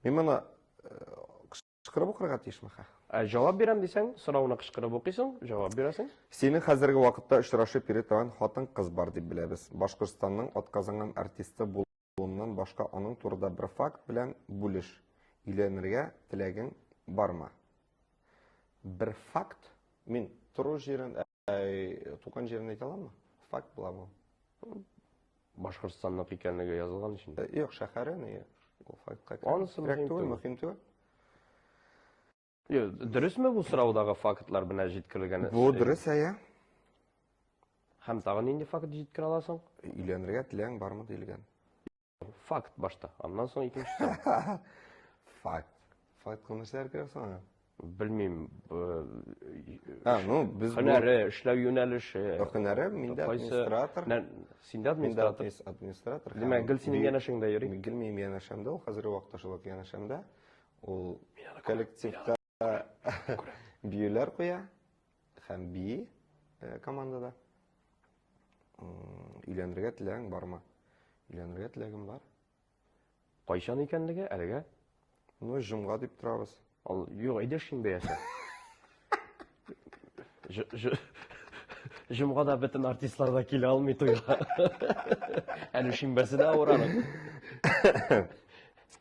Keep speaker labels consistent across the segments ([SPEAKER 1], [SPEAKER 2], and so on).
[SPEAKER 1] Мин моны кычкырып укырга тиешме хә? Ә җавап бирәм
[SPEAKER 2] дисәң, сорауны кычкырып укыйсың, җавап бирәсең. Синең хәзерге вакытта
[SPEAKER 1] очрашып йөри торган хатын-кыз бар дип беләбез. Башкортстанның атказанган артисты булуыннан башка аның турында бер факт белән бүлеш. Өйләнергә теләгең бармы? Бер факт? Мин тору җирен Туган җирен әйтә аламы? Факт була бу. Башкортстанныкы
[SPEAKER 2] икәнлеге язылган өчен. Юк, шәһәре ни?
[SPEAKER 1] Ул фактка. Анысы мөһим түгел, мөһим
[SPEAKER 2] түгел. Дөресме бу сораудагы фактлар менә җиткерелгән? Бу дөрес, әйе. Һәм тагын нинди факт җиткерә аласың? Өйләнергә теләң
[SPEAKER 1] бармы диелгән. Факт
[SPEAKER 2] башта, аннан соң икенчесе. Факт.
[SPEAKER 1] Факт күмәсәр керә соң. Белмим.
[SPEAKER 2] А, ну,
[SPEAKER 1] без һөнәре, эшләү
[SPEAKER 2] юнәлеше. Һөнәре миндә
[SPEAKER 1] администратор. Синдә
[SPEAKER 2] администратор. Миндә администратор. Димәк,
[SPEAKER 1] гел синең
[SPEAKER 2] янәшеңдә йөри. Гел минем янәшәмдә,
[SPEAKER 1] ул хәзерге вакытта шулай янәшәмдә. Ул коллективта Биюләр куя һәм би э, командада. Өйләнергә теләгең бармы? Өйләнергә теләгем бар.
[SPEAKER 2] Кайчан икәнлеге әлегә? Ну, җомга
[SPEAKER 1] дип торабыз. Ал, юк, әйдә
[SPEAKER 2] шимбә яса. Җомга да бөтен артистлар да килә алмый туйга. Әле шимбәсе дә авыралар.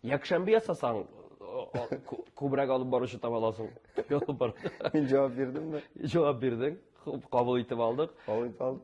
[SPEAKER 2] Якшәмбе ясасаң, күбрәк алып баручы таба аласың. Мин җавап
[SPEAKER 1] бирдемме?
[SPEAKER 2] Җавап
[SPEAKER 1] бирдең.
[SPEAKER 2] Кабул итеп
[SPEAKER 1] алдык. Кабул
[SPEAKER 2] итеп алдык.